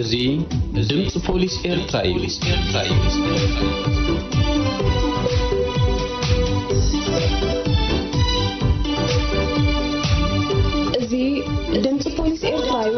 እዚ ድምፂ ፖሊስ ኤርትራ እዩ። እዚ ድምፂ ፖሊስ ኤርትራ እዩ።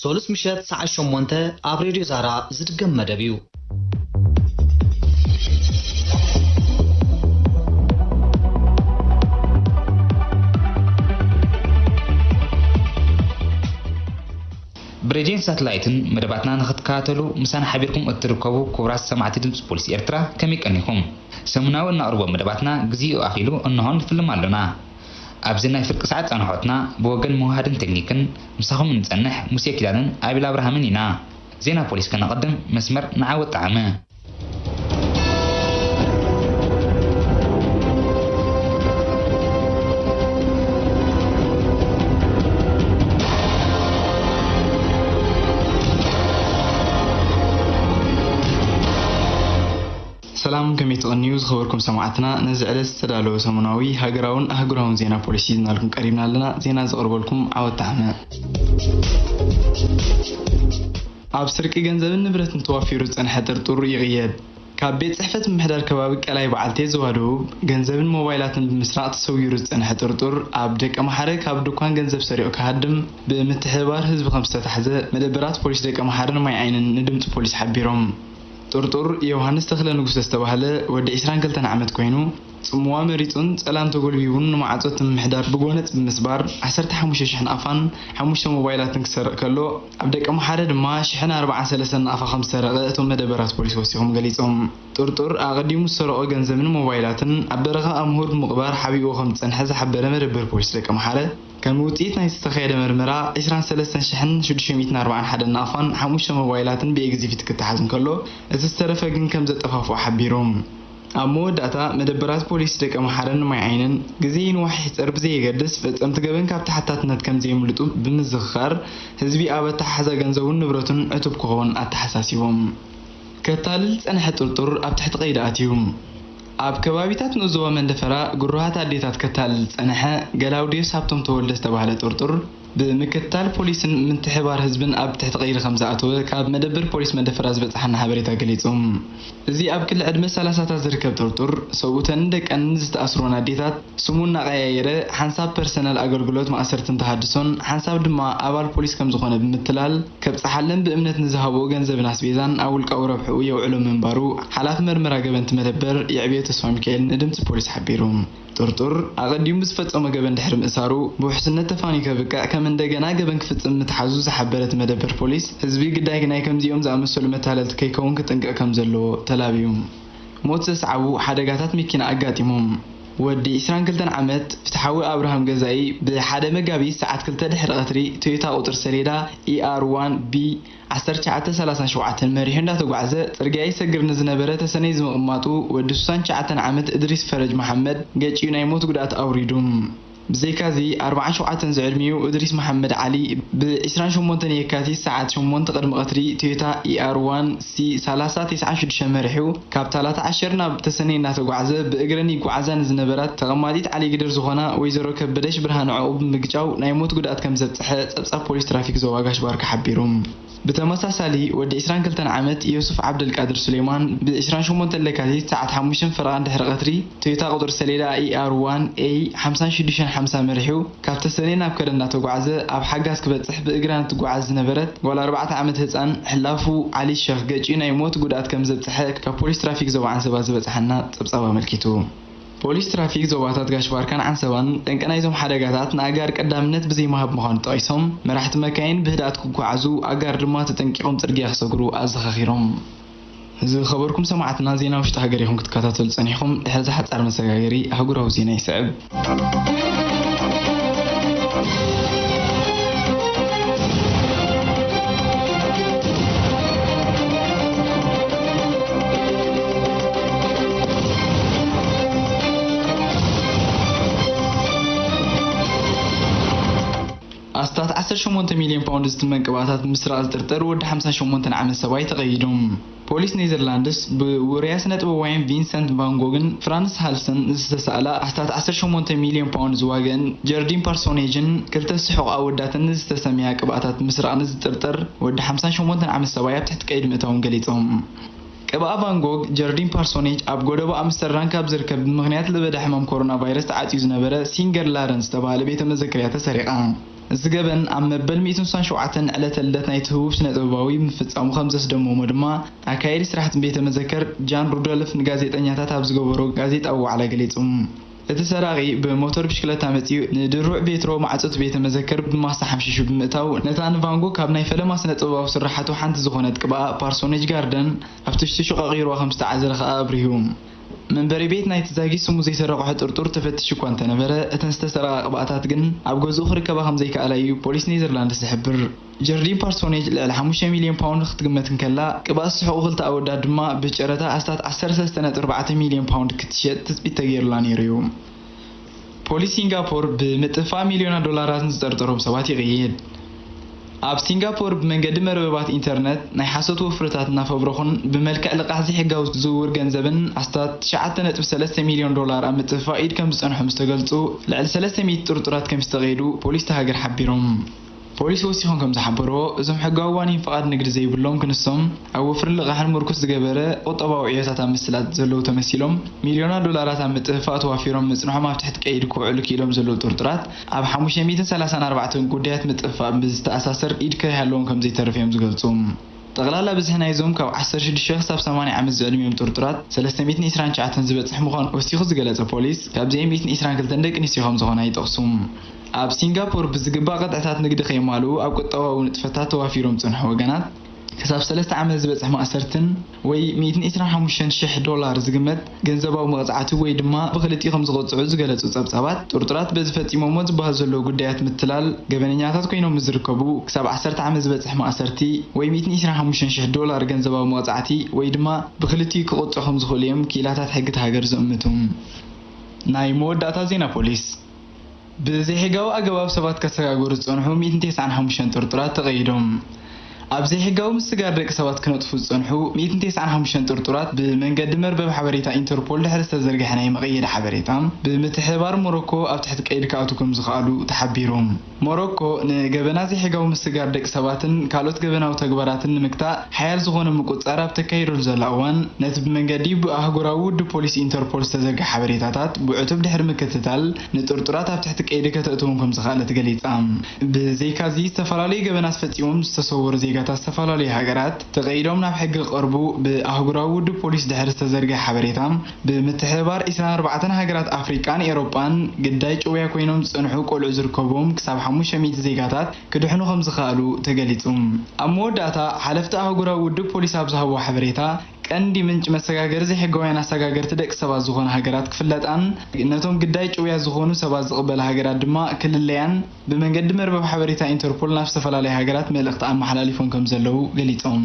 ሰሉስ ምሸት ሰዓት ሸሞንተ ኣብ ሬድዮ ዛራ ዝድገም መደብ እዩ። ብሬድዮን ሳትላይትን መደባትና ንክትከታተሉ ምሳና ሓቢርኩም እትርከቡ ክቡራት ሰማዕቲ ድምጺ ፖሊስ ኤርትራ ከመይ ቀኒኹም። ሰሙናዊ እነቕርቦ መደባትና ግዜኡ ኣኺሉ እነሆ ንፍልም ኣሎና። ኣብዚ ናይ ፍርቂ ሰዓት ጻንሖትና ብወገን መውሃድን ተክኒክን ምሳኹም እንጸንሕ ሙሴ ኪዳነን ኣቤል ኣብርሃምን ኢና። ዜና ፖሊስ ከነቐድም መስመር ንዓወት ጠዓመ። ሰላም ከመይ ትቐንዩ ዝኸበርኩም ሰማዕትና ነዚ ዕለት ዝተዳለወ ሰሙናዊ ሃገራውን ኣህጉራውን ዜና ፖሊስ ሒዝናልኩም ቀሪብና ኣለና ዜና ዘቕርበልኩም ዓወት ተሓመ። ኣብ ስርቂ ገንዘብን ንብረትን ተዋፊሩ ዝጸንሐ ጥርጡር ይቕየድ። ካብ ቤት ጽሕፈት ምምሕዳር ከባቢ ቀላይ በዓልቴ ዞባ ደቡብ ገንዘብን ሞባይላትን ብምስራቕ ተሰዊሩ ዝጸንሐ ጥርጡር ኣብ ደቀምሓረ ካብ ድኳን ገንዘብ ሰሪቑ ክሃድም ብምትሕብባር ህዝቢ ከምዝተታሕዘ መደበራት ፖሊስ ደቀምሓረን ማይዓይንን ንድምጺ ፖሊስ ሓቢሮም። ጥርጡር ዮውሃንስ ተኽለ ንጉሰ ዝተባህለ ወዲ ዕስራን ክልተን ዓመት ኮይኑ፣ ጽምዋ መሪጹን ጸላም ተጎልቢቡን ንማዕጾ እቲ ምምሕዳር ብጎነጽ ብምስባር ዓሰርተ ሓሙሽተ ሽሕ ናቕፋን ሓሙሽተ ሞባይላትን ክሰርቕ ከሎ፣ ኣብ ደቀምሓረ ድማ ሽሕን ኣርብዓን ሰለስተን ናቕፋ ከምዝሰረቐ እቶም መደበራት ፖሊስ ወሲኾም ገሊጾም። ጥርጡር ኣቐዲሙ ዝሰረቖ ገንዘብን ሞባይላትን ኣብ በረኻ ኣምሁር ብምቕባር ሓቢእዎ ከምዝጸንሐ ዝሓበረ መደበር ፖሊስ ደቀምሓረ፣ ከም ውጽኢት ናይቲ ዝተኻየደ መርመራ፣ ዕስራን ሰለስተን ሽሕን ሽዱሽተ ሚእትን ኣርባዓን ሓደን ናቕፋን ሓሙሽተ ሞባይላትን ብኤግዚፊት ክተሓዝ እንከሎ፣ እቲ ዝተረፈ ግን ከም ዘጠፋፍኦ ሓቢሩ። ኣብ መወዳእታ፣ መደበራት ፖሊስ ደቀምሓረን ማይዓይንን፣ ግዜ ይንዋሕ ይሕጸር ብዘየገድስ፣ ፈጸምቲ ገበን ካብ ተሓታትነት ከም ዘየምልጡ ብምዝኽኻር፣ ህዝቢ ኣብ ኣተሓሕዛ ገንዘቡን ንብረቱን ዕቱብ ክኸውን ኣተሓሳሲቦም። ከታልል ዝጸንሐ ጥርጡር ኣብ ትሕቲ ቀይዲ ኣትዩ። ኣብ ከባቢታት ንኡስ ዞባ መንደፈራ ግሩሃት ኣዴታት ከታልል ዝጸንሐ ገላውዴዎስ ሃብቶም ተወልደ ዝተባህለ ጥርጡር፣ ብምክትታል ፖሊስን ምትሕብባር ህዝብን ኣብ ትሕቲ ቀይዲ ከምዝኣተወ ካብ መደበር ፖሊስ መንደፈራ ዝበጽሓና ሓበሬታ ገሊጹ። እዚ ኣብ ክሊ ዕድመ ሰላሳታት ዝርከብ ጥርጡር፣ ሰብኡተንን ደቀንን ዝተኣስሩወን ኣዴታት፣ ስሙ እናቐያየረ ሓንሳብ ፐርሰናል ኣገልግሎት ማእሰርትን ተሃድሶን ሓንሳብ ድማ ኣባል ፖሊስ ከም ዝኾነ ብምትላል ከብጽሓለን ብእምነት ንዝሃብኦ ገንዘብን ኣስቤዛን ኣብ ውልቃዊ ረብሕኡ የውዕሎ ምንባሩ ሓላፊ መርመራ ገበንቲ መደበር የዕብዮ ተስፋሚካኤል ንድምጺ ፖሊስ ሓቢሩ። ጥርጡር ኣቐዲሙ ብዝፈጸሞ ገበን ድሕሪ ምእሳሩ ብውሕስነት ተፋንዩ ከብቅዕ ከም እንደገና ገበን ክፍጽም ምትሓዙ ዝሓበረ እቲ መደበር ፖሊስ ህዝቢ ግዳይ ናይ ከምዚኦም ዝኣመሰሉ መታለልቲ ከይከውን ክጥንቀቕ ከም ዘለዎ ተላብዩ። ሞት ዘስዓቡ ሓደጋታት መኪና ኣጋጢሞም። ወዲ ዕስራን ክልተን ዓመት ፍትሓዊ ኣብርሃም ገዛኢ ብ ሓደ መጋቢት ሰዓት ክልተ ድሕሪ ቀትሪ ቶዮታ ቁጽሪ ሰሌዳ ER one B ዓሰርተ ትሽዓተ ሰላሳን ሸውዓተን መሪሑ እንዳተጓዕዘ ጽርግያ ይሰግር ንዝነበረ ተሰነይ ዝምቕማጡ ወዲ ሱሳን ትሽዓተን ዓመት እድሪስ ፈረጅ መሓመድ ገጭዩ ናይ ሞት ጉድኣት ኣውሪዱ። ብዘይካ'ዚ፣ ኣርብዓን ሸውዓተን ዝዕድሚኡ እድሪስ መሓመድ ዓሊ፣ ብ ዕስራን ሸሞንተን የካቲት ሰዓት ሸሞንተ ቅድሚ ቀትሪ፣ ቶዮታ ER one C ሰላሳ ተስዓን ሽዱሽተን መሪሑ፣ ካብ ታላታ ዓሸር ናብ ተሰነይ እናተጓዕዘ ብእግረን ይጓዓዛ ንዝነበራት ተቐማጢት ዓሊግድር ዝኾና ወይዘሮ ከበደሽ ብርሃነ'ዖኡ ብምግጫው ናይ ሞት ጉድኣት ከምዘብፀሐ ፀብፃብ ፖሊስ ትራፊክ ዞባ ጋሽ-ባርካ ሓቢሩ። ብተመሳሳሊ ወዲ ዕስራን ክልተን ዓመት ዮሱፍ ዓብደልቃድር ሱሌማን ብ ዕስራን ሸሞንተን ለካቲት ሰዓት ሓሙሽተን ፈረቓን ድሕሪ ቐትሪ ቶዮታ ቁፅሪ ሰሌዳ ER1A ሓምሳን ሽዱሽተን ሓምሳ መሪሑ ካብ ተሰነይ ናብ ከረን እናተጓዕዘ ኣብ ሓጋዝ ክበፅሕ ብእግራ ንትጓዓዝ ዝነበረት ጓል ኣርባዕተ ዓመት ህፃን ሕላፉ ዓሊ ሸኽ ገጭዩ ናይ ሞት ጉድኣት ከምዘብፀሐ ካብ ፖሊስ ትራፊክ ዞባ ዓንሰባ ዝበፀሓና ፀብፃብ ኣመልኪቱ። ፖሊስ ትራፊክ ዞባታት ጋሽ-ባርካን ዓንሰባን ጠንቂ ናይዞም ሓደጋታት ንኣጋር ቀዳምነት ብዘይምሃብ ምዃኑ ጠቒሶም፣ መራሕቲ መካይን ብህድኣት ክጓዓዙ ኣጋር ድማ ተጠንቂቖም ጽርግያ ክሰግሩ ኣዘኻኺሮም። ዝኸበርኩም ሰማዕትና ዜና ውሽጢ ሃገር ኢኹም ክትከታተሉ ጸኒሕኹም፣ ድሕሪ'ዚ ሓጻር መሰጋገሪ ኣህጉራዊ ዜና ይስዕብ። ኣስታት ዓሰርተ ሸሞንተ ሚልዮን ፓውንድ ዝትመን ቅብኣታት ብምስራቕ ዝጥርጠር ወዲ ሓምሳን ሸሞንተን ዓመት ሰብኣይ ተቐይዶም። ፖሊስ ኔዘርላንድስ ብውሩያት ስነ-ጥበባውያን ቪንሰንት ቫን ጎግን ፍራንስ ሃልሰን ዝተሳእላ ኣስታት ዓሰርተ ሸሞንተ ሚልዮን ፓውንድ ዝዋገኣን ጀርዲን ፓርሶኔጅን ክልተ ስሑቕ ኣወዳተንን ዝተሰምያ ቅብኣታት ብምስራቕ ንዝጥርጠር ወዲ ሓምሳን ሸሞንተን ዓመት ሰብኣይ ኣብ ትሕቲ ቀይዲ ምእታዎም ገሊጾም። ቅብኣ ቫን ጎግ ጀርዲን ፓርሶኔጅ ኣብ ጎደቦ ኣምስተርዳን ካብ ዝርከብ ብምኽንያት ለበዳ ሕማም ኮሮና ቫይረስ ተዓጽዩ ዝነበረ ሲንገር ላረን ዝተባህለ ቤተ መዘክርያ ተሰሪቓ። እዚ ገበን ኣብ መበል ሚእትን ስሳን ሸውዓተን ዕለተ ልደት ናይቲ ህቡብ ስነ-ጥበባዊ ምፍጻሙ ከም ዘስደመሞ ድማ ኣካያዲ ስራሕቲ ቤተ መዘከር ጃን ሩዶልፍ ንጋዜጠኛታት ኣብ ዝገበሮ ጋዜጣዊ ዋዕላ ገሊጹ። እቲ ሰራቒ ብሞተር ብሽክለታ መጺኡ ንድሩዕ ቬትሮ ማዕጾ'ቲ ቤተ መዘክር ብማስ ሓምሺሹ ብምእታዉ፣ ነታ ንቫን ጎግ ካብ ናይ ፈለማ ስነ-ጥበባዊ ስርሓቱ ሓንቲ ዝኾነት ቅብኣ ፓርሶኔጅ ጋርደን ኣብ ትሽትሹ ቀቒሩዋ ከም ዝተዓዘረ ከኣ ኣብሪሁ። መንበሪ ቤት ናይቲ ዛጊት ስሙ ዘይሰረቕሖ ጥርጡር ተፈቲሹ እኳ እንተነበረ፣ እተን ዝተሰረቓ ቅብኣታት ግን ኣብ ገዝኡ ክርከባ ከም ዘይከኣላ እዩ ፖሊስ ኔዘርላንድስ ዝሕብር። ጀርዲን ፓርሶኔጅ ልዕሊ ሓሙሽተ ሚልዮን ፓውንድ ክትግመት እንከላ፣ ቅብኣት ዝስሕቑ ክልተ ኣወዳት ድማ ብጨረታ ኣስታት ዓሰርተ ሰለስተ ነጥቢ ኣርባዕተ ሚልዮን ፓውንድ ክትሸጥ ትጽቢት ተገይሩላ ነይሩ'ዩ። ፖሊስ ሲንጋፖር ብምጥፍፋእ ሚልዮናት ዶላራት ንዝጠርጠሮም ሰባት ይቕይድ። ኣብ ሲንጋፖር ብመንገዲ መርበባት ኢንተርነት ናይ ሓሶት ወፍርታት እናፈብረኹን ብመልክዕ ልቓሕ ዘይሕጋዊ ዝውውር ገንዘብን ኣስታት ትሽዓተ ነጥቢ ሰለስተ ሚልዮን ዶላር ኣብ ምጥፍፋእ ኢድ ከምዝጸንሖም ዝተገልጹ ልዕሊ ሰለስተ ሚእቲ ጥርጡራት ከምዝተቐይዱ ፖሊስ'ታ ሃገር ሓቢሮም። ፖሊስ ወሲኾም ከምዝሓበርዎ፣ እዞም ሕጋዊ ዋኒን ፍቓድ ንግዲ ዘይብሎም ክንሶም፣ ኣብ ወፍሪ ልቓሕን ምርኩስ ዝገበረ ቁጠባዊ ዕዮታት ኣብ ምስላጥ ዘለዉ ተመሲሎም፣ ሚልዮናት ዶላራት ኣብ ምጥፍፋእ ተዋፊሮም ምጽንሖም ኣብ ትሕቲ ቀይዲ ክውዕሉ ክኢሎም ዘለዉ ጥርጡራት፣ ኣብ ሓሙሽተ ሚእትን ሰላሳን ኣርባዕተን ጉዳያት ምጥፍፋእ ምስ ዝተኣሳሰር ኢድ ከይሃለዎም ከምዘይተርፍ እዮም ዝገልጹ። ጠቕላላ ብዝሒ ናይዞም ካብ ዓሰርተ ሽዱሽተ ክሳብ ሰማንያ ዓመት ዝዕድሚኦም ጥርጡራት ሰለስተ ሚእትን ዕስራን ትሽዓተን ዝበጽሕ ምዃኑ ወሲኹ ዝገለጸ ፖሊስ፣ ካብዚኤም ሚእትን ዕስራን ክልተን ደቂ ኣንስትዮ ከምዝኾና ይጠቕሱ። ኣብ ሲንጋፖር ብዝግባእ ቅጥዕታት ንግዲ ከየማልኡ ኣብ ቁጠባዊ ንጥፈታት ተዋፊሮም ዝጸንሑ ወገናት ክሳብ ሰለስተ ዓመት ዝበጽሕ ማእሰርትን ወይ ሚእትን ዒስራን ሓሙሽተን ሽሕ ዶላር ዝግመት ገንዘባዊ መቕጻዕቲ ወይ ድማ ብኽልቲኡ ከም ዝቕጽዑ ዝገለጹ ጸብጻባት፣ ጥርጡራት በዚ ፈጺሞሞ ዝበሃሉ ዘለዉ ጉዳያት ምትላል ገበነኛታት ኮይኖም ምስ ዝርከቡ ክሳብ ዓሰርተ ዓመት ዝበጽሕ ማእሰርቲ ወይ ሚእትን ዒስራን ሓሙሽተን ሽሕ ዶላር ገንዘባዊ መቕጻዕቲ ወይ ድማ ብኽልቲኡ ክቕጽዑ ከም ዝኽእሉ እዮም ክኢላታት ሕጊ እታ ሃገር ዝእምቱ። ናይ መወዳእታ ዜና ፖሊስ። ብዘይሕጋዊ ኣገባብ ሰባት ከሰጋግሩ ዝጸንሑ ሚእትን ተስዓን ሓሙሽተን ጥርጡራት ተቐይዶም። ኣብ ዘይሕጋዊ ምስግጋር ደቂ ሰባት ክነጥፉ ዝጸንሑ ሚእትን ተስዓን ሓሙሽተን ጥርጡራት ብመንገዲ መርበብ ሓበሬታ ኢንተርፖል ድሕሪ ዝተዘርግሐ ናይ መቐየዲ ሓበሬታ ብምትሕብባር ሞሮኮ ኣብ ትሕቲ ቀይዲ ክኣትዉ ከምዝኸኣሉ ተሓቢሩ። ሞሮኮ ንገበናት ዘይሕጋዊ ምስግጋር ደቂ ሰባትን ካልኦት ገበናዊ ተግባራትን ንምግታእ ሓያል ዝኾነ ምቁጽጻር ኣብ ተካይደሉ ዘላ እዋን፣ ነቲ ብመንገዲ ኣህጉራዊ ውድብ ፖሊስ ኢንተርፖል ዝተዘርግሐ ሓበሬታታት ብዕቱብ ድሕሪ ምክትታል ንጥርጡራት ኣብ ትሕቲ ቀይዲ ከተእትዎም ከምዝኸኣለት ገሊጻ። ብዘይካ'ዚ ዝተፈላለዩ ገበናት ፈጺሞም ዝተሰወሩ ዜጋታት ዝተፈላለዩ ሃገራት ተቐይዶም ናብ ሕጊ ክቐርቡ ብኣህጉራዊ ውድብ ፖሊስ ድሕሪ ዝተዘርግሐ ሓበሬታ ብምትሕብባር ዕስራን ኣርባዕተን ሃገራት ኣፍሪቃን ኤሮጳን ግዳይ ጭውያ ኮይኖም ዝጸንሑ ቆልዑ ዝርከቡዎም ክሳብ ሓሙሽተ ሚእቲ ዜጋታት ክድሕኑ ከምዝኸኣሉ ተገሊጹ። ኣብ መወዳእታ ሓለፍቲ ኣህጉራዊ ውድብ ፖሊስ ኣብ ዝሃብዎ ሓበሬታ፣ ቀንዲ ምንጪ መሰጋገሪ ዘይሕጋውያን ኣሳጋገርቲ ደቂ ሰባት ዝኾና ሃገራት ክፍለጣን ነቶም ግዳይ ጭውያ ዝኾኑ ሰባት ዝቕበላ ሃገራት ድማ ክልለያን ብመንገዲ መርበብ ሓበሬታ ኢንተርፖል ናብ ዝተፈላለያ ሃገራት መልእኽቲ ኣመሓላሊፎም ከምዘለዉ ገሊጾም።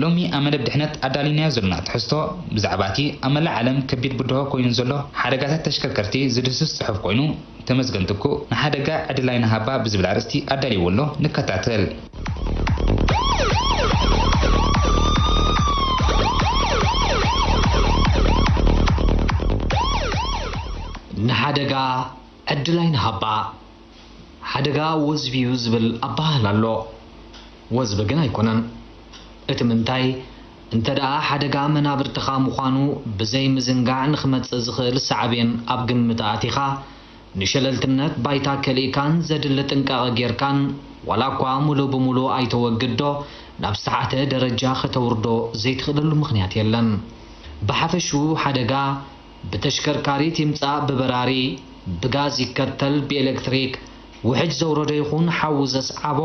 ሎሚ ኣብ መደብ ድሕነት ኣዳሊናዮ ዘሎና ትሕዝቶ ብዛዕባ እቲ ኣብ መላእ ዓለም ከቢድ ብድሆ ኮይኑ ንዘሎ ሓደጋታት ተሽከርከርቲ ዝድህስስ ጽሑፍ ኮይኑ ተመዝገንቲ እኮ ንሓደጋ ዕድል ኣይንሃባ ብዝብል ኣርእስቲ ኣዳሊይዎ ኣሎ ንከታተል። ንሓደጋ ዕድል ኣይንሃባ ሓደጋ ወዝቢ'ዩ ዝብል ኣበሃህላ ኣሎ። ወዝቢ ግን ኣይኮነን። እቲ ምንታይ እንተደኣ ሓደጋ መናብርትኻ ምዃኑ ብዘይ ምዝንጋዕ ንኽመጽእ ዝኽእል ሳዕቤን ኣብ ግምት ኣእቲኻ፣ ንሸለልትነት ባይታ ከሊእካን ዘድሊ ጥንቃቐ ጌርካን ዋላኳ ምሉእ ብምሉእ ኣይተወግድዶ ናብ ዝተሓተ ደረጃ ከተውርዶ ዘይትኽእለሉ ምኽንያት የለን። ብሓፈሽኡ ሓደጋ። ብተሽከርካሪት ይምጻእ ብበራሪ፣ ብጋዝ ይከተል ብኤለክትሪክ፣ ውሕጅ ዘውረዶ ይኹን ሓዊ ዘስዓቦ፣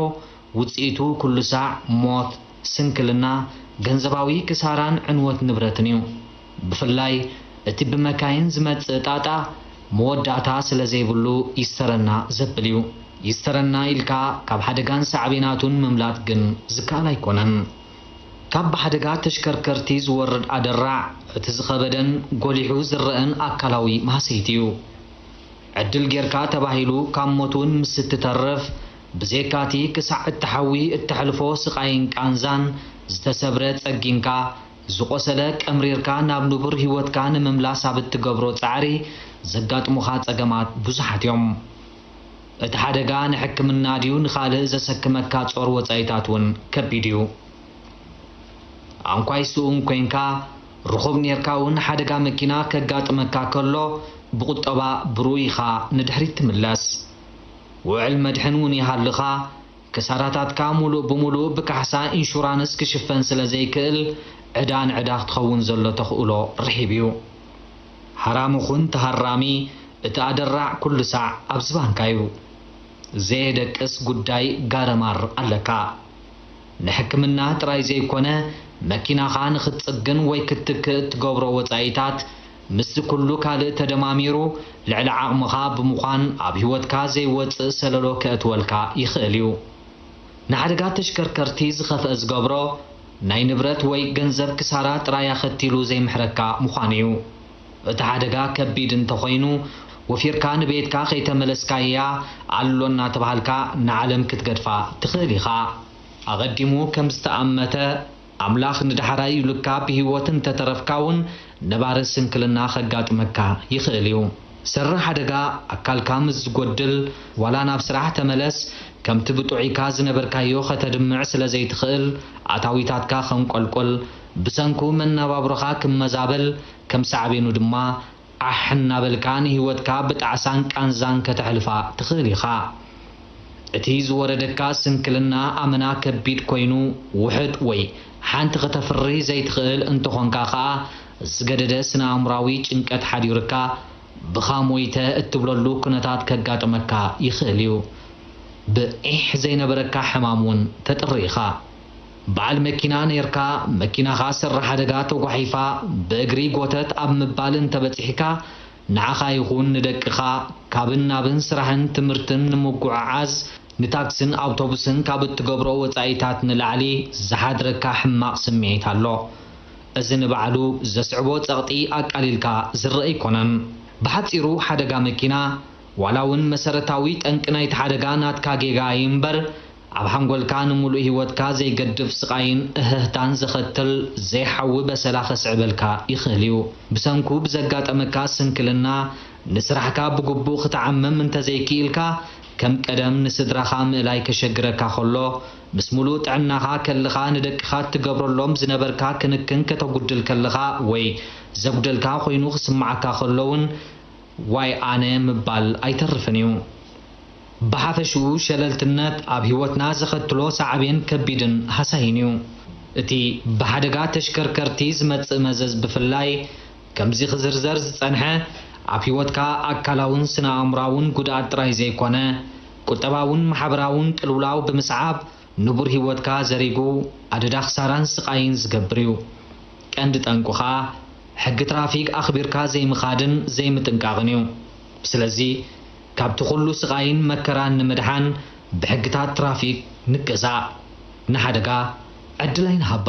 ውጽኢቱ ኩሉ ሳዕ ሞት፣ ስንክልና፣ ገንዘባዊ ክሳራን ዕንወት ንብረትን እዩ። ብፍላይ እቲ ብመካይን ዝመጽእ ጣጣ መወዳእታ ስለዘይብሉ ይስተረና ዘብል እዩ። ይስተረና ኢልካ ካብ ሓደጋን ሳዕቤናቱን ምምላጥ ግን ዝከኣል ኣይኮነን። ካብ ብሓደጋ ተሽከርከርቲ ዝወርድ ኣደራዕ እቲ ዝኸበደን ጎሊሑ ዝረኣን ኣካላዊ ማህሰይቲ እዩ። ዕድል ጌርካ ተባሂሉ ካብ ሞት እውን ምስ እትተርፍ፣ ብዜካቲ ክሳዕ እትሓዊ እተሕልፎ ስቓይን ቃንዛን፣ ዝተሰብረ ጸጊንካ፣ ዝቖሰለ ቀምሪርካ ናብ ንቡር ህይወትካ ንምምላስ ኣብ እትገብሮ ጻዕሪ ዘጋጥሙኻ ጸገማት ብዙሓት እዮም። እቲ ሓደጋ ንሕክምና ድዩ ንኻልእ ዘሰክመካ ጾር ወጻኢታት እውን ከቢድ እዩ። ኣንኳይ ስኡን ኮይንካ፣ ርኹብ ኔርካ እውን ሓደጋ መኪና ከጋጥመካ ከሎ ብቁጠባ ብርኡይ ኢኻ ንድሕሪት ትምለስ። ውዕል መድሕን እውን ይሃልኻ፣ ክሳራታትካ ሙሉእ ብሙሉእ ብካሕሳ ኢንሹራንስ ክሽፈን ስለዘይክእል ዕዳ ንዕዳ ክትኸውን ዘሎ ተኽእሎ ርሒብ እዩ። ሃራሚ ኩን ተሃራሚ እቲ ኣደራዕ ኩሉ ሳዕ ኣብ ዝባንካ እዩ ዘየደቅስ ጉዳይ ጋረማር ኣለካ ንሕክምና ጥራይ ዘይኮነ መኪናኻ ንኽትጽግን ወይ ክትትክእ እትገብሮ ወጻኢታት ምስዚ ኩሉ ካልእ ተደማሚሩ ልዕሊ ዓቕምኻ ብምዃን ኣብ ሂወትካ ዘይወጽእ ሰለሎ ከእትወልካ ይኽእል እዩ ንሓደጋ ተሽከርከርቲ ዝኸፍአ ዝገብሮ ናይ ንብረት ወይ ገንዘብ ክሳራ ጥራይ ኣኸቲሉ ዘይምሕረካ ምዃኑ እዩ። እቲ ሓደጋ ከቢድ እንተኾይኑ፣ ወፊርካ ንቤትካ ከይተመለስካ እያ ኣሎ እናተባሃልካ ንዓለም ክትገድፋ ትኽእል ኢኻ። ኣቐዲሙ ከም ዝተኣመተ፣ ኣምላኽ ንዳሕራይ ኢሉካ ብህይወት እንተተረፍካ እውን ነባሪ ስንክልና ከጋጥመካ ይኽእል እዩ። ሰሪ ሓደጋ ኣካልካ ምስ ዝጎድል ዋላ ናብ ስራሕ ተመለስ ከምቲ ብጡዕይካ ዝነበርካዮ ከተድምዕ ስለ ዘይትኽእል ኣታዊታትካ ከንቆልቁል ብሰንኩ መናባብሮኻ ክመዛበል ከም ሳዕቤኑ ድማ ዓሕ እናበልካ ንህይወትካ ብጣዕሳን ቃንዛን ከተሕልፋ ትኽእል ኢኻ። እቲ ዝወረደካ ስንክልና ኣመና ከቢድ ኮይኑ ውሑድ ወይ ሓንቲ ክተፍሪ ዘይትኽእል እንተኾንካ ከኣ ዝገደደ ስነ-ኣእምሮኣዊ ጭንቀት ሓዲሩካ ብኻ ሞይተ እትብለሉ ኩነታት ከጋጥመካ ይኽእል እዩ። ብ ዒሕ ዘይነበረካ ሕማም ውን ተጥሪ ኢኻ። በዓል መኪና ነይርካ መኪናኻ ሰራሕ ሓደጋ ተጓሒፋ ብእግሪ ጎተት ኣብ ምባል እንተበጺሕካ ንዓኻ ይኹን ንደቅኻ ካብን ናብን ስራሕን ትምህርትን ንምጉዕዓዝ ንታክስን ኣውቶቡስን ካብ እትገብሮ ወጻኢታት ንላዕሊ ዝሓድረካ ሕማቕ ስምዒት ኣሎ። እዚ ንባዕሉ ዘስዕቦ ጸቕጢ ኣቃሊልካ ዝርኣ ኣይኮነን። ብሓጺሩ ሓደጋ መኪና፣ ዋላ'ውን መሰረታዊ ጠንቂ ናይቲ ሓደጋ ናትካ ጌጋ ኣይ'ምበር፣ ኣብ ሓንጎልካ ንምሉእ ህይወትካ ዘይገድፍ ስቓይን እህህታን ዘኸትል ዘይሓዊ በሰላ ከስዕበልካ ይኽእል'ዩ። ብሰንኩ ብዘጋጠመካ ስንክልና ንስራሕካ ብግቡእ ክተዓምም እንተዘይክኢልካ፣ ከም ቀደም ንስድራኻ ምእላይ ከሸግረካ ከሎ፣ ምስ ሙሉእ ጥዕናኻ ከልኻ ንደቅኻ እትገብረሎም ዝነበርካ ክንክን ከተጉድል ከለኻ ወይ ዘጉደልካ ኮይኑ ክስምዓካ ከሎ ውን ዋይ ኣነ ምባል ኣይተርፍን እዩ። ብሓፈሽኡ ሸለልትነት ኣብ ህይወትና ዘኸትሎ ሳዕቤን ከቢድን ሃሳይን እዩ። እቲ ብሓደጋ ተሽከርከርቲ ዝመጽእ መዘዝ ብፍላይ ከምዚ ክዝርዘር ዝጸንሐ ኣብ ህይወትካ ኣካላውን ስነ ኣእምሮኣውን ጉድኣት ጥራይ ዘይኮነ፣ ቁጠባውን ማሕበራውን ቅልውላው ብምስዓብ ንቡር ህይወትካ ዘሪጉ ኣደዳ ክሳራን ስቓይን ዝገብር እዩ። ቀንዲ ጠንቁ ከኣ ሕጊ ትራፊክ ኣኽቢርካ ዘይምኻድን ዘይምጥንቃቕን እዩ። ስለዚ ካብቲ ኩሉ ስቓይን መከራን ንምድሓን ብሕግታት ትራፊክ ንገዛእ። ንሓደጋ ዕድል ኣይንሃባ።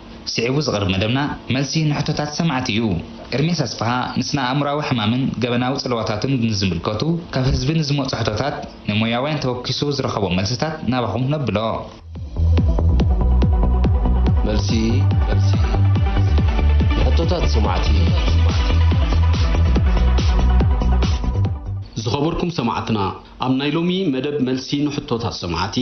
ስዒቡ ዝቐርብ መደብና መልሲ ንሕቶታት ሰማዕቲ እዩ። ኤርምያስ ኣስፍሃ ንስነ-ኣእምሮኣዊ ሕማምን ገበናዊ ጽልዋታቱን ንዝምልከቱ ካብ ህዝቢ ንዝመጹ ሕቶታት ንሞያውያን ተወኪሱ ዝረኸቦ መልስታት ናባኹም ነብሎ። መልሲ ንሕቶታት ሰማዕቲ። ዝኸበርኩም ሰማዕትና ኣብ ናይ ሎሚ መደብ መልሲ ንሕቶታት ሰማዕቲ፣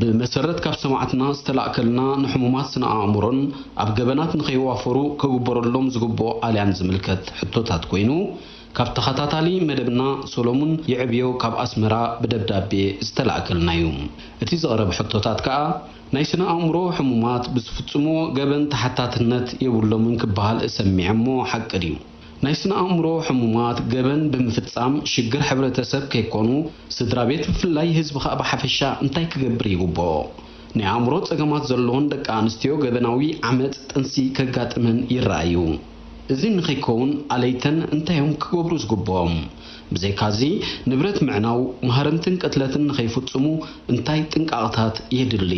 ብመሰረት ካብ ሰማዕትና ዝተላእከልና ንሕሙማት ስነ ኣእምሮን ኣብ ገበናት ንከይዋፈሩ ክግበረሎም ዝግብኦ ኣልያን ዝምልከት ሕቶታት ኮይኑ ካብ ተኸታታሊ መደብና ሰሎሙን ይዕብዮ ካብ ኣስመራ ብደብዳቤ ዝተላእከልና እዩ። እቲ ዝቐረበ ሕቶታት ከኣ ናይ ስነ ኣእምሮ ሕሙማት ብዝፍጽምዎ ገበን ተሓታትነት የብሎምን ክበሃል እሰሚዐ እሞ ሓቂ ድዩ? ናይ ስነ ኣእምሮ ሕሙማት ገበን ብምፍጻም ሽግር ሕብረተሰብ ከይኮኑ ስድራቤት ብፍላይ ህዝቢ ከኣ ብሓፈሻ እንታይ ክገብር ይግብኦ? ናይ ኣእምሮ ጸገማት ዘለወን ደቂ ኣንስትዮ ገበናዊ ዓመጽ ጥንሲ ከጋጥመን ይረኣ እዩ። እዚ ንከይከውን ኣለይተን እንታይ እዮም ክገብሩ ዝግብኦም? ብዘይካዚ ንብረት ምዕናው፣ ማህረምትን ቅትለትን ንከይፍጽሙ እንታይ ጥንቃቕታት የድሊ?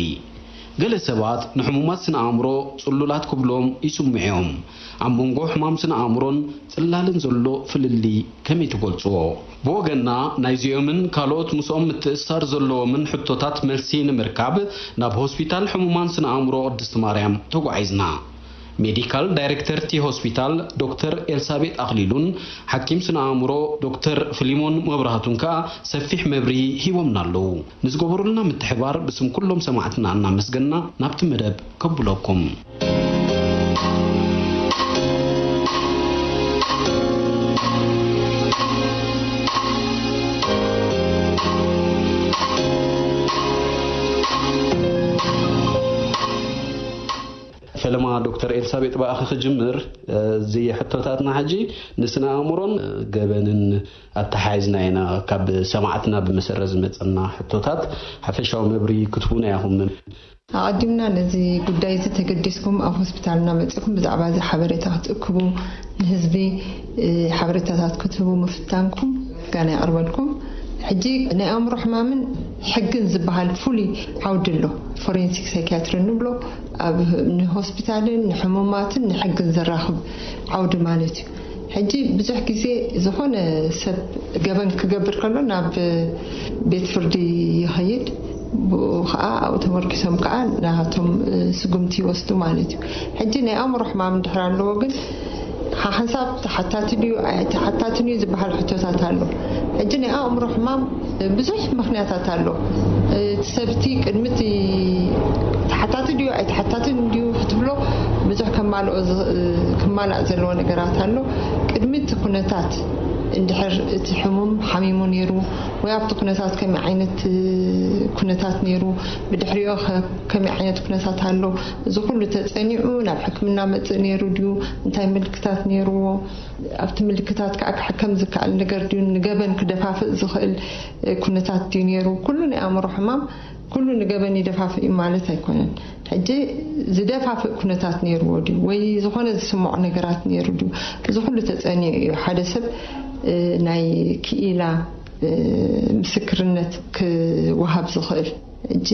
ገለ ሰባት ንሕሙማት ስነ ኣእምሮ ጽሉላት ክብልዎም ይስምዑ እዮም። ኣብ መንጎ ሕማም ስነ-ኣእምሮን ጽላልን ዘሎ ፍልልይ ከመይ ትገልጽዎ? ብወገንና ናይዚኦምን ካልኦት ምስኦም ምትእስሳር ዘለዎምን ሕቶታት መልሲ ንምርካብ ናብ ሆስፒታል ሕሙማን ስነ-ኣእምሮ ቅድስቲ ማርያም ተጓዒዝና። ሜዲካል ዳይሬክተር'ቲ ሆስፒታል ዶክተር ኤልሳቤጥ ኣኽሊሉን ሓኪም ስነ-ኣእምሮ ዶክተር ፍሊሞን መብራህቱን ከኣ ሰፊሕ መብርሂ ሂቦምና ኣለዉ። ንዝገበሩልና ምትሕባር ብስም ኩሎም ሰማዕትና እናመስገንና ናብቲ መደብ ከብሎኩም። ፈለማ ዶክተር ኤልሳቤጥ ብኣኺ ክጅምር እዚ ሕቶታትና ሕጂ ንስነ ኣእምሮን ገበንን ኣተሓሒዝና ኢና ካብ ሰማዕትና ብመሰረት ዝመጸና ሕቶታት ሓፈሻዊ መብርሂ ክትቡና ኢኹም። ኣቐዲምና ነዚ ጉዳይ እዚ ተገዲስኩም ኣብ ሆስፒታልና መጺእኩም ብዛዕባ እዚ ሓበሬታ ክትእክቡ ንህዝቢ ሓበሬታታት ክትህቡ ምፍታንኩም ምስጋና የቕርበልኩም። ሕጂ ናይ ኣእምሮ ሕማምን ሕግን ዝበሃል ፍሉይ ዓውዲ ኣሎ፣ ፎሬንሲክ ሳይኪያትሪ እንብሎ ኣብ ንሆስፒታልን ንሕሙማትን ንሕግን ዘራኽብ ዓውዲ ማለት እዩ። ሕጂ ብዙሕ ግዜ ዝኾነ ሰብ ገበን ክገብር ከሎ ናብ ቤት ፍርዲ ይኸይድ ብኡ ከኣ ኣብኡ ተመርኪሶም ከኣ ናቶም ስጉምቲ ይወስዱ ማለት እዩ። ሕጂ ናይ ኣእምሮ ሕማም እንድሕር ኣለዎ ግን ሓሓንሳብ ተሓታቲ ድዩ ኣይ ተሓታትን እዩ ዝበሃል ሕቶታት ኣሎ። ሕጂ ናይ ኣእምሮ ሕማም ብዙሕ ምኽንያታት ኣሎ እቲ ሰብ እቲ ቅድሚ እቲ ተሓታቲ ድዩ ኣይተሓታትን ድዩ ክትብሎ ብዙሕ ከማልኦ ክማላእ ዘለዎ ነገራት ኣሎ ቅድሚ እቲ ኩነታት እንድሕር እቲ ሕሙም ሓሚሙ ነይሩ ወይ ኣብቲ ኩነታት ከመይ ዓይነት ኩነታት ነይሩ ብድሕሪኦ ከመይ ዓይነት ኩነታት ኣሎ እዚ ኩሉ ተፀኒዑ ናብ ሕክምና መፅእ ነይሩ ድዩ እንታይ ምልክታት ነይርዎ ኣብቲ ምልክታት ከኣ ክሕከም ዝከኣል ነገር ድዩ፣ ንገበን ክደፋፍእ ዝኽእል ኩነታት ድዩ ነይሩ፣ ኩሉ ናይ ኣእምሮ ሕማም ኩሉ ንገበን ይደፋፍእ እዩ ማለት ኣይኮነን። ሕጂ ዝደፋፍእ ኩነታት ነይርዎ ድዩ ወይ ዝኾነ ዝስምዖ ነገራት ነይሩ ድዩ እዚ ኩሉ ተጸንዩ እዩ ሓደ ሰብ ናይ ክኢላ ምስክርነት ክወሃብ ዝኽእል። ሕጂ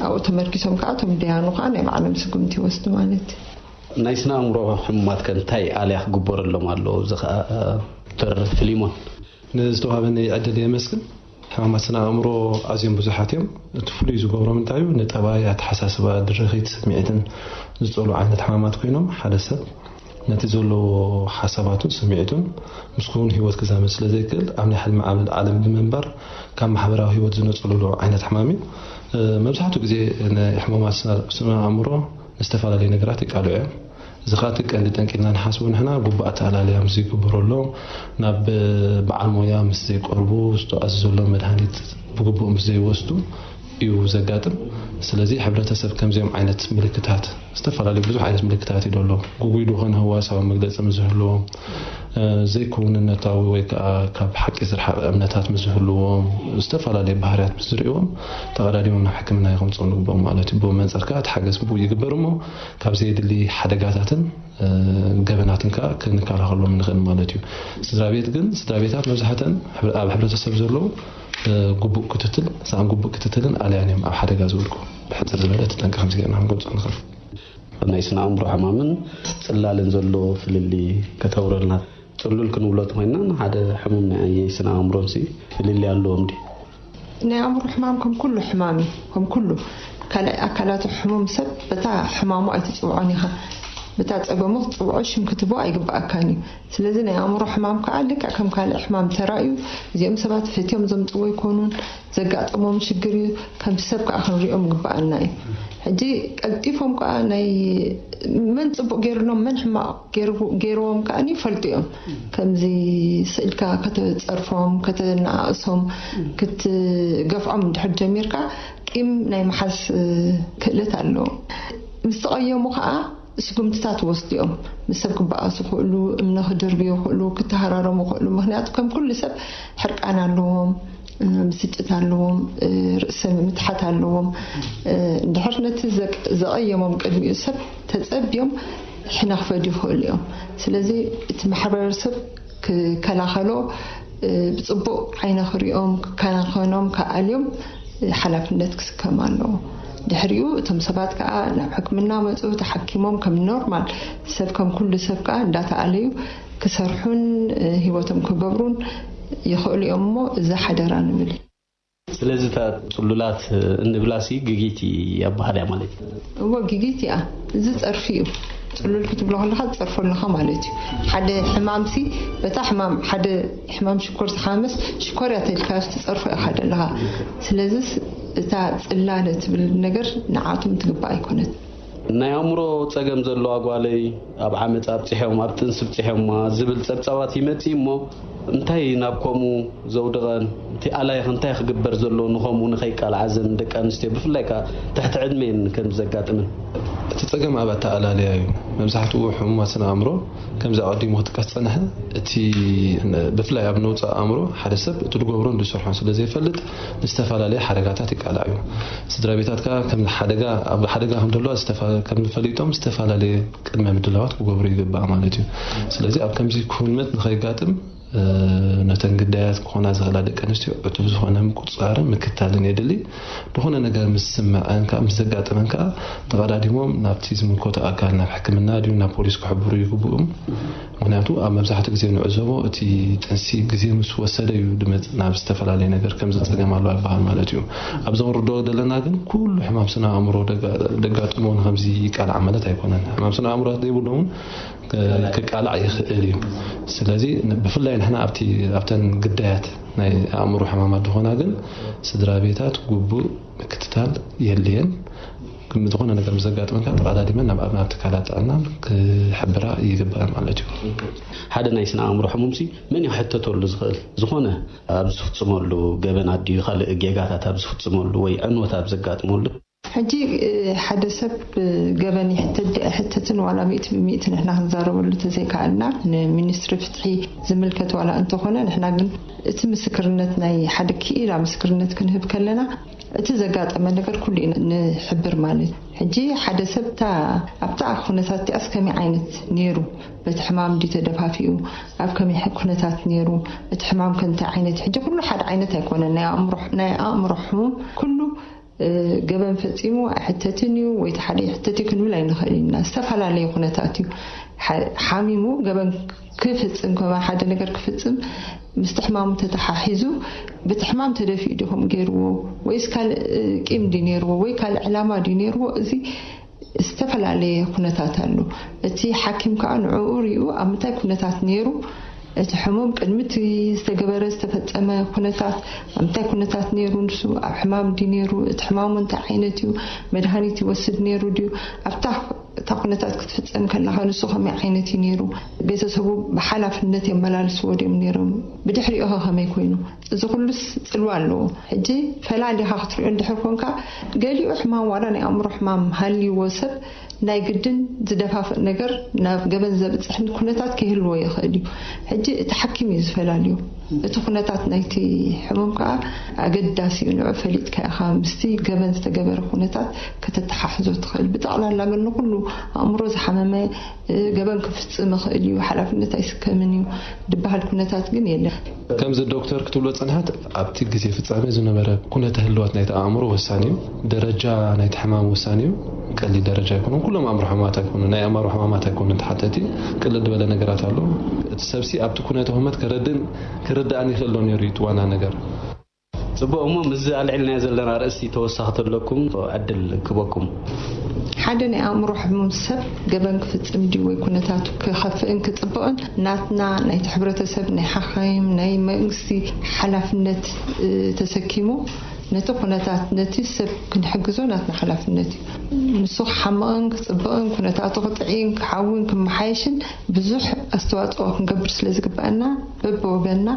ኣብኡ ተመርኪሶም ከኣ እቶም ደያኑ ከኣ ናይ ባዕሎም ስጉምቲ ይወስዱ ማለት እዩ። ናይ ስነ ኣእምሮ ሕሙማት ከ እንታይ ኣልያ ክግበረሎም ኣለዎ እዚ ከኣ ዶክተር ፍሊሞን። ንዝተዋሃበኒ ዕድል የመስግን። ሕማማት ስነ ኣእምሮ ኣዝዮም ብዙሓት እዮም። እቲ ፍሉይ ዝገብሮም እንታይ እዩ ንጠባይ፣ ኣተሓሳስባ፣ ድርኺት፣ ስምዒትን ዝጸልዉ ዓይነት ሕማማት ኮይኖም ሓደ ሰብ ነቲ ዘለዎ ሓሳባቱን ስምዒቱን ምስ ክዉን ህይወት ክዛመድ ስለ ዘይክእል ኣብ ናይ ሕልሚ ዓለም ብምንባር ካብ ማሕበራዊ ህይወት ዝነጸሉሉ ዓይነት ሕማም እዩ። መብዛሕትኡ ግዜ ንሕሙማት ስነ ኣእምሮ ንዝተፈላለዩ ነገራት የቃልዑ እዮም። እዚ ከኣ እቲ ቀንዲ ጠንቂ ኢልና ንሓስቦ ንሕና ግቡእ ኣተኣላልያ ምስ ዘይግበረሎም፣ ናብ በዓል ሞያ ምስ ዘይቀርቡ፣ ዝተኣዘዘሎም መድሃኒት ብግቡእ ምስ ዘይወስዱ እዩ ዘጋጥም። ስለዚ ሕብረተሰብ ከምዚኦም ዓይነት ምልክታት ዝተፈላለዩ ብዙሕ ዓይነት ምልክታት እዩ ደሎ። ግጉይ ድኾነ ህዋሳዊ መግለጺ ምስ ዝህልዎም፣ ዘይክውንነታዊ ወይ ከኣ ካብ ሓቂ ዝረሓቐ እምነታት ምስ ዝህልዎም፣ ዝተፈላለየ ባህርያት ምስ ዝርእዩዎም ተቐዳዲሞም ናብ ሕክምና ኢዩ ከምጽኦም ዝግብኦም ማለት ኢዩ። ብመንጽር ከኣ እቲ ሓገዝ ግቡእ ይግበር እሞ ካብ ዘየድሊ ሓደጋታትን ገበናትን ከኣ ክንከላኸሎም ንኽእል ማለት ኢዩ። ስድራቤት ግን ስድራቤታት መብዛሕተን ኣብ ሕብረተሰብ ዘለዉ ግቡእ ክትትል ሳኣን ግቡእ ክትትልን ኣልያን ኢዮም ኣብ ሓደጋ ዝወድቁ። ብሕጽር ዝበለ እቲ ጠንቂ ከምዚ ጌርና ክንገልጾ ንኽእል። ኣብ ናይ ስነ ኣእምሮ ሕማምን ጽላልን ዘሎ ፍልልይ ከተብረልና። ጽሉል ክንብሎ ተኾይንና ንሓደ ሕሙም ናይ ኣየይ ስነ ኣእምሮንሲ ፍልልይ ኣለዎም ድዩ? ናይ ኣእምሮ ሕማም ከም ኩሉ ሕማም እዩ። ከም ኩሉ ካልኣይ ኣካላቱ ሕሙም ሰብ በታ ሕማሙ ኣይትጽውዖን ኢኻ። በታ ጸገሙ ክትጽውዖ ሽም ክትህቦ ኣይግብኣካን እዩ። ስለዚ ናይ ኣእምሮ ሕማም ከኣ ልክዕ ከም ካልእ ሕማም ተራእዩ እዚኦም ሰባት ፈትዮም ዘምጽዎ ኣይኮኑን። ዘጋጠሞም ሽግር እዩ ከምቲ ሰብ ከኣ ክንሪኦም ይግበኣና እዩ ሕጂ ቀልጢፎም ከኣ ናይ መን ጽቡቅ ጌርሎም መን ሕማቅ ጌርዎም ከኣ ይፈልጡ እዮም ከምዚ ስኢልካ ከተጸርፎም ከተነኣእሶም ክትገፍዖም እንድሕር ጀሚርካ ቂም ናይ ምሓዝ ክእለት ኣለዎም ምስ ተቀየሙ ከኣ ስጉምትታት ይወስዱ እዮም። ምስ ሰብ ክበኣሱ ይኽእሉ፣ እምነ ክድርብዩ ይኽእሉ፣ ክተሃራረሙ ይኽእሉ፣ ምኽንያቱ ከም ኩሉ ሰብ ሕርቃን ኣለዎም፣ ብስጭት ኣለዎም፣ ርእሰ ምትሓት ኣለዎም። እንድሕር ነቲ ዘቐየሞም ቅድሚኡ ሰብ ተጸብዮም ሕነ ክፈድዩ ይኽእሉ እዮም። ስለዚ እቲ ማሕበረሰብ ክከላኸሎ ብፅቡቕ ዓይነ ክሪኦም ክከናኸኖም ክኣልዮም ሓላፍነት ክስከም ኣለዎ። ድሕሪኡ እቶም ሰባት ከዓ ናብ ሕክምና መፁ ተሓኪሞም ከም ኖርማል ሰብ ከም ኩሉ ሰብ ከዓ እንዳተኣለዩ ክሰርሑን ህይወቶም ክገብሩን ይኽእሉ እዮም እሞ እዚ ሓደራ ንብል። ስለዚ እታ ጽሉላት እንብላሲ ግጊት ኣበሃል እያ ማለት እዩ። እወ ግጊት እያ። እዚ ጸርፊ እዩ። ጽሉል ክትብሎ ከለኻ ትጸርፎ ኣለኻ ማለት እዩ። ሓደ ሕማምሲ በታ ሕማም ሓደ ሕማም ሽኮር ዝሓመመስ ሽኮር እያ ተልካዮስ ትጸርፎ ኢኻ ዘለኻ። ስለዝስ እታ ጽላለ ትብል ነገር ንዓኣቶም ትግባእ ኣይኮነትን። ናይ ኣእምሮ ጸገም ዘለዋ ጓለይ ኣብ ዓመጽ ኣብጺሖም ኣብ ጥንሲ ብጺሖማ ዝብል ጸብጻባት ይመጽእ እሞ እንታይ ናብ ከምኡ ዘውድቐን እቲ ኣላይኽ እንታይ ክግበር ዘለዎ ንኸምኡ ንኸይቃልዓ ዘን ደቂ ኣንስትዮ ብፍላይ ከኣ ትሕቲ ዕድሜን ከምዚ ዘጋጥምን እቲ ጸገም ኣብ ኣተኣላልያ እዩ መብዛሕትኡ ሕሙማት ስነ ኣእምሮ ከምዚ ኣቐዲሙ ክጥቀስ ዝጸንሐ እቲ ብፍላይ ኣብ ነውጺ ኣእምሮ ሓደ ሰብ እቲ ዝገብሮን ዝሰርሖን ስለ ዘይፈልጥ ንዝተፈላለየ ሓደጋታት ይቃላዕ እዩ። ስድራቤታት ከኣ ከም ሓደጋ ኣብ ሓደጋ ከም ዘለዋ ዝተፋ ከም ፈሊጦም ዝተፈላለየ ቅድመ ምድላዋት ክገብሩ ይግባእ ማለት እዩ። ስለዚ ኣብ ከምዚ ኩነት ንኸይጋጥም ነተን ግዳያት ክኾና ዝኽእላ ደቂ ኣንስትዮ ዕቱብ ዝኾነ ምቁጽጻርን ምክታልን የድሊ። ዝኾነ ነገር ምስ ዝስመዐን ከኣ ምስ ዘጋጥመን ከኣ ተቐዳዲሞም ናብቲ ዝምልከቶ ኣካል ናብ ሕክምና ድዩ ናብ ፖሊስ ክሕብሩ ይግብኡም። ምኽንያቱ ኣብ መብዛሕትኡ ግዜ ንዕዘቦ እቲ ጥንሲ ግዜ ምስ ወሰደ እዩ ድመጽእ ናብ ዝተፈላለየ ነገር ከምዚ ጸገም ኣሎ ኣይበሃል ማለት እዩ ኣብዚ ክንርድኦ ደለና ግን ኩሉ ሕማም ስነ ኣእምሮ ደጋጥሞ ንከምዚ ይቃላዕ ማለት ኣይኮነን ሕማም ስነ ኣእምሮ ዘይብሉ እውን ክቃላዕ ይኽእል እዩ ስለዚ ብፍላይ ንሕና ኣብቲ ኣብተን ግዳያት ናይ ኣእምሮ ሕማማት ዝኾና ግን ስድራ ቤታት ጉቡእ ምክትታል የድልየን ክም ዝኾነ ነገር ምስ ዘጋጥመካ ተቐዳዲመን ናብ ኣብና ትካላት ጥዕና ክሕብራ ይግበኣን ማለት እዩ። ሓደ ናይ ስነ ኣእምሮ ሕሙምሲ መን እዩ ክሕተተሉ ዝኽእል? ዝኾነ ኣብ ዝፍጽመሉ ገበን ኣድዩ ካልእ ጌጋታት ኣብ ዝፍጽመሉ ወይ ዕንወት ኣብ ዘጋጥመሉ። ሕጂ ሓደ ሰብ ብገበን ይሕተት ድዩ ኣይሕተትን ዋላ ሚእቲ ብሚእቲ ንሕና ክንዛረበሉ ተዘይከኣልና ንሚኒስትሪ ፍትሒ ዝምልከት ዋላ እንተኾነ ንሕና ግን እቲ ምስክርነት ናይ ሓደ ክኢላ ምስክርነት ክንህብ ከለና እቲ ዘጋጠመ ነገር ኩሉ ኢና ንሕብር ማለት ሕጂ ሓደ ሰብ እታ ኣብታ ኩነታት እቲኣስ ከመይ ዓይነት ኔሩ በቲ ሕማም ድዩ ተደፋፊኡ ኣብ ከመይ ኩነታት ኔሩ እቲ ሕማም ከ እንታይ ዓይነት ሕጂ ኩሉ ሓደ ዓይነት ኣይኮነን ናይ ኣእምሮ ናይ ኣእምሮ ሕሙም ኩሉ ገበን ፈጺሙ ኣይሕተትን እዩ ወይ እቲ ሓደ ይሕተት እዩ ክንብል ኣይንኽእል ኢና ዝተፈላለየ ኩነታት እዩ ሓሚሙ ገበን ክፍጽም ከማን ሓደ ነገር ክፍጽም ምስቲ ሕማሙ ተተሓሒዙ ብቲ ሕማም ተደፊኡ ድዩ ከምኡ ገይርዎ ወይስ ካልእ ቂም ድዩ ነይርዎ ወይ ካልእ ዕላማ ድዩ ነይርዎ እዚ ዝተፈላለየ ኩነታት ኣሎ እቲ ሓኪም ከዓ ንዕኡ ሪኡ ኣብ ምንታይ ኩነታት ነይሩ እቲ ሕሙም ቅድሚ እቲ ዝተገበረ ዝተፈጸመ ኩነታት ኣብ ምንታይ ኩነታት ነይሩ ንሱ ኣብ ሕማም ድዩ ነይሩ እቲ ሕማሙ እንታይ ዓይነት እዩ መድሃኒት ይወስድ ነይሩ ድዩ ኣብታ እታ ኩነታት ክትፍጸም ከላኸ ንሱ ከመይ ዓይነት እዩ ነይሩ? ቤተሰቡ ብሓላፍነት የመላልስዎ ድዮም ነይሮም? ብድሕሪኡኸ ከመይ ኮይኑ? እዚ ኩሉስ ጽልዋ ኣለዎ። ሕጂ ፈላሊኻ ክትሪኦ እንድሕር ኮንካ፣ ገሊኡ ሕማም ዋላ ናይ ኣእምሮ ሕማም ሃልይዎ ሰብ ናይ ግድን ዝደፋፍእ ነገር ናብ ገበን ዘብጽሕ ኩነታት ከይህልዎ ይኽእል እዩ። ሕጂ እቲ ሓኪም እዩ ዝፈላልዮ። እቲ ኩነታት ናይቲ ሕሙም ከኣ ኣገዳሲ እዩ፣ ንዑ ፈሊጥካ ኢኻ ምስቲ ገበን ዝተገበረ ኩነታት ከተተሓሕዞ እትኽእል። ብጠቕላላ ግን ንኹሉ ኣእምሮ ዝሓመመ ገበን ክፍጽም ይኽእል እዩ፣ ሓላፍነት ኣይስከምን እዩ ድበሃል ኩነታት ግን የለን። ከምዚ ዶክተር ክትብሎ ዝጸንሐት ኣብቲ ግዜ ፍጻሜ ዝነበረ ኩነተ ህልዋት ናይቲ ኣእምሮ ወሳኒ እዩ። ደረጃ ናይቲ ሕማም ወሳኒዩ ቀሊል ደረጃ ኣይኮነን ኩሎም ኣእምሮ ሕማማት ኣይኮኑን ናይ ኣእማሮ ሕማማት ኣይኮነን ተሓተቲ ቅልል ድበለ ነገራት ኣሎ እቲ ሰብሲ ኣብቲ ኩነተ ሁመት ከረድእን ክርዳእን ይክእል ዶ ነይሩ እዩ እቲ ዋና ነገር ጽቡቅ እሞ ምስዚ ኣልዒልናዮ ዘለና ርእሲ ተወሳኪ ተለኩም ዕድል ክበኩም። ሓደ ናይ ኣእምሮ ሕሙም ሰብ ገበን ክፍጽም ድዩ ወይ ኩነታቱ ክኸፍእን ክጽብቕን ናትና ናይቲ ሕብረተሰብ ናይ ሓኻይም ናይ መንግስቲ ሓላፍነት ተሰኪሙ ነቲ ኩነታት ነቲ ስብ ክንሕግዞ ናትና ሓላፍነት እዩ ንሱ ክሓምቕን ክጽብቕን ኩነታቱ ክጥዕይን ክሓዊን ክመሓየሽን ብዙሕ ኣስተዋጽኦ ክንገብር ስለ ዝግበኣና በብወገንና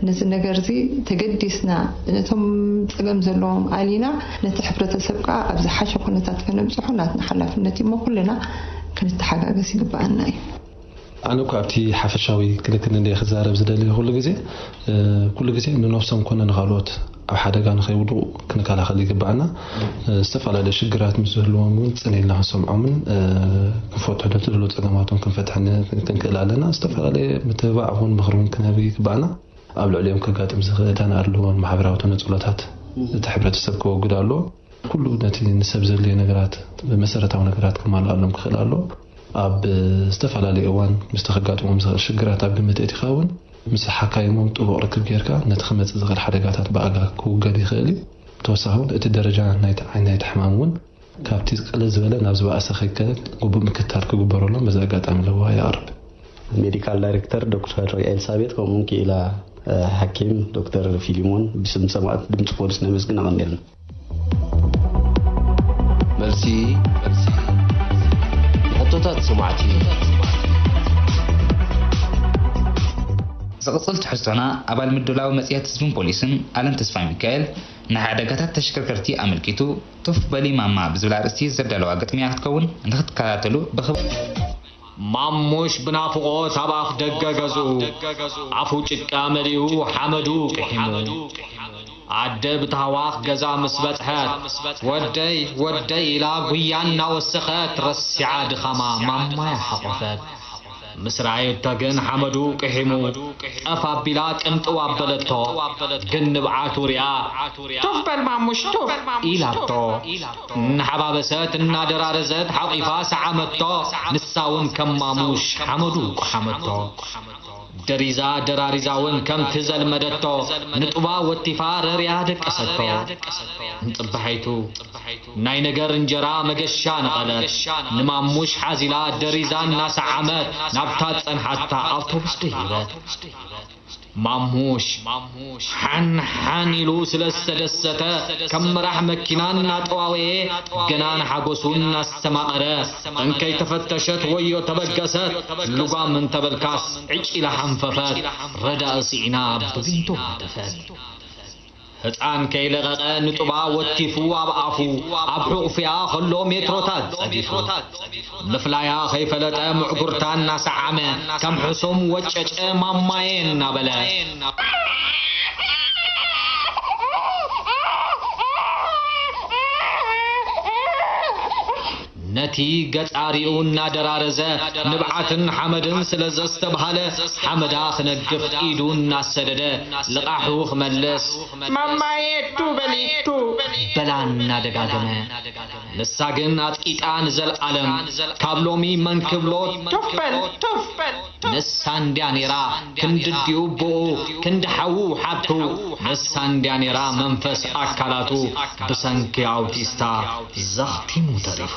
ነዚ ነገርዚ ተገዲስና ነቶም ጸገም ዘለዎም ኣሊና ነቲ ሕብረተሰብ ከኣ ኣብ ዝሓሸ ኩነታት ከነብጽሖ ናትና ሓላፍነት እዩሞ ኩልና ክንተሓጋገዝ ይግበኣና እዩ። ኣነ እኳ ኣብቲ ሓፈሻዊ ክንክን እንድየ ክዛረብ ዝደሊ ኩሉ ግዜ ኩሉ ግዜ ንነብሶም ኮነ ንካልኦት ኣብ ሓደጋ ንከይውድቑ ክንከላኸል ይግባኣና ዝተፈላለዩ ሽግራት ምስ ዝህልዎም እውን ፅን ኢልና ክንሰምዖምን ክንፈትሑ ዶ ትደልዎ ፀገማቶም ክንፈትሕ ክንክእል ኣለና ዝተፈላለየ ምትብባዕ ኹን ምኽሪ እውን ክንህብ ይግባኣና ኣብ ልዕሊኦም ከጋጥም ዝኽእል እታን ኣድልዎን ማሕበራዊ ተነፅሎታት እቲ ሕብረተሰብ ከወግድ ኣለዎ ኩሉ ነቲ ንሰብ ዘድልዮ ነገራት መሰረታዊ ነገራት ክማልኣሎም ክኽእል ኣለዎ ኣብ ዝተፈላለየ እዋን ምስቲ ከጋጥሞም ዝኽእል ሽግራት ኣብ ግምት ኣእቲኻ እውን ምስ ሓካይሞም ጥቡቕ ርክብ ገይርካ ነቲ ክመጽእ ዝኽእል ሓደጋታት ብኣጋ ክውገድ ይኽእል እዩ። ብተወሳኺ እውን እቲ ደረጃ ናይቲ ዓይነት ናይቲ ሕማም እውን ካብቲ ቅልል ዝበለ ናብ ዝበኣሰ ከይከድ ግቡእ ምክትታል ክግበረሎም በዚ ኣጋጣሚ ለበዋ የቕርብ። ሜዲካል ዳይሬክተር ዶክተር ኤልሳቤጥ ከምኡውን ክኢላ ሓኪም ዶክተር ፊሊሞን ብስም ሰማእት ድምጺ ፖሊስ ነመስግን ኣቐኒልና። መልሲ ንሕቶታት ሰማዕቲ ዝቕጽል ትሕዝቶና ኣባል ምድላው መጽሔት ህዝብን ፖሊስን ኣለም ተስፋሚካኤል ንሓደጋታት ተሽከርከርቲ ኣመልኪቱ ቱፍ በሊ ማማ ብዝብል ኣርእስቲ ዘዳለዋ ግጥሚ'ያ ክትከውን ንኽትከታተሉ ብኽብሪ ማሙሽ ብናፍቖት ኣብ ኣፍ ደገ ገዝኡ ኣፉ ጭቃ መሊኡ ሓመዱ ቅሒሙ። ኣደ ብታህዋኽ ገዛ ምስ በጽሐት ወደይ ወደይ ኢላ ጉያ እናወሰኸት ረሲዓ ድኻማ ማማያ ሓቖፈት። ምስ ረኣየቶ ግን ሓመዱ ቅሒሙ ጠፍ ኣቢላ ቅንጥው ኣበለቶ ግን ንብዓቱ ሪኣ ቱፍ በል ማሙሽ ቱፍ ኢላቶ። እናሓባበሰት እናደራረዘት ሓቚፋ ሰዓመቶ፣ ንሳ'ውን ከም ማሙሽ ሓመዱ ቈሓመቶ። ደሪዛ ደራሪዛ'ውን ከምቲ ዘልመደቶ ንጡባ ወቲፋ ረርያ ደቀሰቶ። እንጽባሒቱ ናይ ነገር እንጀራ መገሻ ነቐለት፣ ንማሙሽ ሓዚላ ደሪዛ እናሰዓመት ናብታ ዝጸንሓታ ኣውቶቡስ ደየበት። ማሙሽ ሓንሓን ኢሉ ስለ ዝተደሰተ ከም መራሕ መኪና እናጠዋወየ ገና ንሓጎሱ እናስተማቐረ እንከይተፈተሸት ወዮ ተበገሰት ልጓም እንተበልካስ ዕጭ ኢላ ሓንፈፈት ረዳኢ ስዒና ብቢንቶ ሃተፈት። ህጻን ከይለቐቐ ንጡባ ወቲፉ ኣብ ኣፉ ኣብ ሑቕፍያ ከሎ ሜትሮታት ጸዲፉ። ምፍላያ ከይፈለጠ ምዕጉርታ እናሰዓመ ከም ሕሱም ወጨጨ ማማየ እናበለ። ነቲ ገጻሪኡ እናደራረዘ ንብዓትን ሓመድን ስለ ዘስተብሃለ፣ ሓመዳ ክነግፍ ኢዱ እናሰደደ ልቓሑ ክመልስ። ማማየ እቱ በሊ እቱ! በላ እናደጋገመ። ንሳ ግን ኣጽቂጣ ንዘልኣለም፣ ካብ ሎሚ መን ክብሎ ቱፍ በል ቱፍ! ንሳ እንድያ ኔራ ክንድዲኡ ቦኡ ክንዲ ሓዉ ሓብቱ ንሳ እንድያ ኔራ መንፈስ ኣካላቱ ብሰንኪ ኣውቲስታ ዘኽቲሙ ተሪፉ።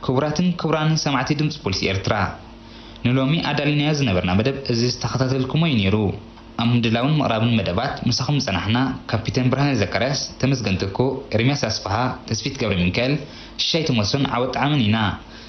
ክቡራትን ክቡራንን ሰማዕቲ ድምጺ ፖሊስ ኤርትራ ንሎሚ ኣዳሊናዮ ዝነበርና መደብ እዚ ዝተኸታተልኩሞ እዩ ኔሩ። ኣብ ምድላውን ምቕራብን መደባት ምሳኹም ዝጸናሕና ካፒተን ብርሃነ ዘካርያስ፣ ተመስገን ትኩእ፣ ኤርምያስ ኣስፍሃ፣ ተስፊት ገብረሚካኤል፣ ሽሻይ ቶሞሶን ዓወት ጠዓመን ኢና።